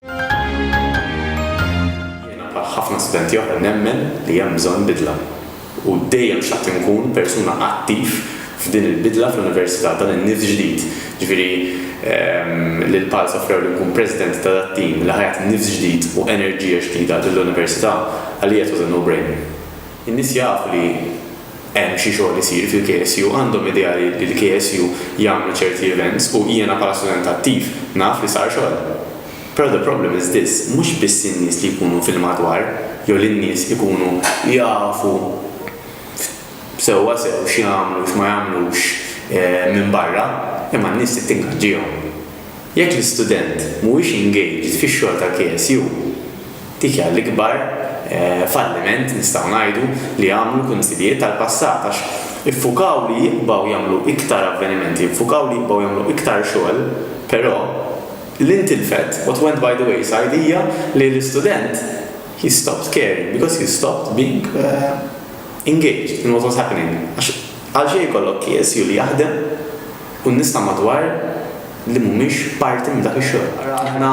Jiena bħal ħafna studenti oħra nemmen li hemm bżonn bidla u dejjem xtaqt inkun persuna attiv f'din il-bidla fl-Università, dan in-nifs ġdid, ġifieri li l-PALs offrewli nkun President ta' dat-tim li ħa jagħti nifs ġdid u enerġija ġdida lill-Università, għalija it was a no-brainer. In-nies jafu li hemm xi xogħol isir fil-KSU għandhom idea li l-KSU jagħmlu ċerti events u jiena bħala student attiv naf li sar xogħol. Però the problem is this mhux biss in-nies li jkunu fil-madwar jew li n-nies ikunu jafu sewwa sew x'jagħmlu u x'ma jagħmlux minn barra imma n-nies trid tingaġġihom. Jekk l-istudent mhuwiex engaged fix-xogħol tal-KSU, dik hija l-ikbar falliment, nistgħu ngħidu, li għamlu l-Kunsillijiet tal-passat għax iffukaw li jibqgħu jagħmlu iktar avvenimenti, iffukaw li jibqgħu jagħmlu iktar xogħol, però li ntilfet, what went by the wayside, hija li l-istudent he stopped caring because he stopped being engaged in what was happening għax għalxejn ikollok KSU li jaħdem, u n-nies ta' madwar li mhumiex parti minn dak ix-xogħol. Ara aħna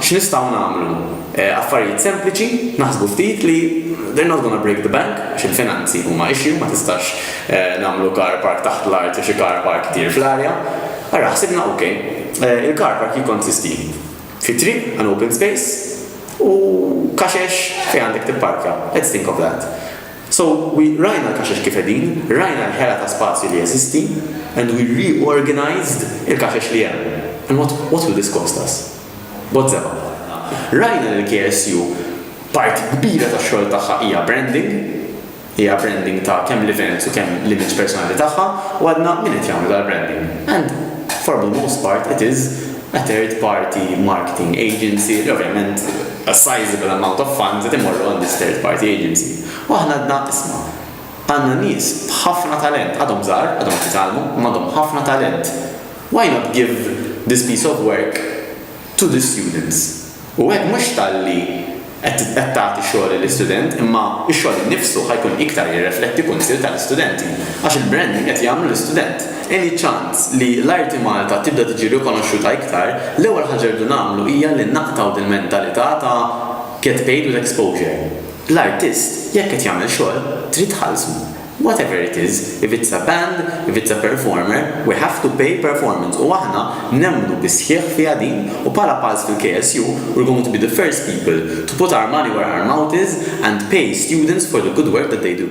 x'nistgħu nagħmlu. Affarijiet sempliċi, naħsbu ftit li they're not gonna break the bank, għax il-finanzi huma issue, ma tistax nagħmlu car park taħt l-art u xi car park itir fl-arja. Ara ħsibna ok, il-car park jikkonsisti fi triq, an open space, u kaxex fejn għandek tipparkja, let's think of that. So we rajna l-kaxex kif qegħdin, rajna l-ħela ta' spazju li jeżisti and we reorganised il-kaxex li hemm. And what, what will this cost us? B'mod żebgħa. Rajna li l-KSU parti kbira tax-xogħol tagħha hija branding, hija branding ta' kemm l-events u kemm l-image personali tagħha u għadna min qed jagħmlu dal-branding. And for the most part it is a third party marketing agency, li ovvjament a sizeable amount of funds qed imorru għand this third party agency. U aħna għedna, isma', għandna nies b'ħafna talent, għadhom żgħar, għadhom qed jitgħallmu, imma għandhom ħafna talent, why not give this piece of work to the students? U hekk mhux talli qed qed tagħti xogħol lill-istudent imma x-xogħol innifsu ħa jkun iktar jirrefletti kunsill tal-istudenti għax il-branding qed jagħmlu l-istudent. Any ċans li l-arti Malta tibda tiġi rikonoxxuta iktar, l-ewwel ħaġa rridu nagħmlu hija li naqtgħu dil-mentalità ta' get paid with exposure. L-artist jekk qed jagħmel xogħol trid tħallsu. Whatever it is, if it's a band, if it's a performer, we have to pay performance u aħna nemmnu bis-sħiħ fiha din u bħala Pulse fil-KSU we're going to be the first people to put our money where our mouth is and pay students for the good work that they do.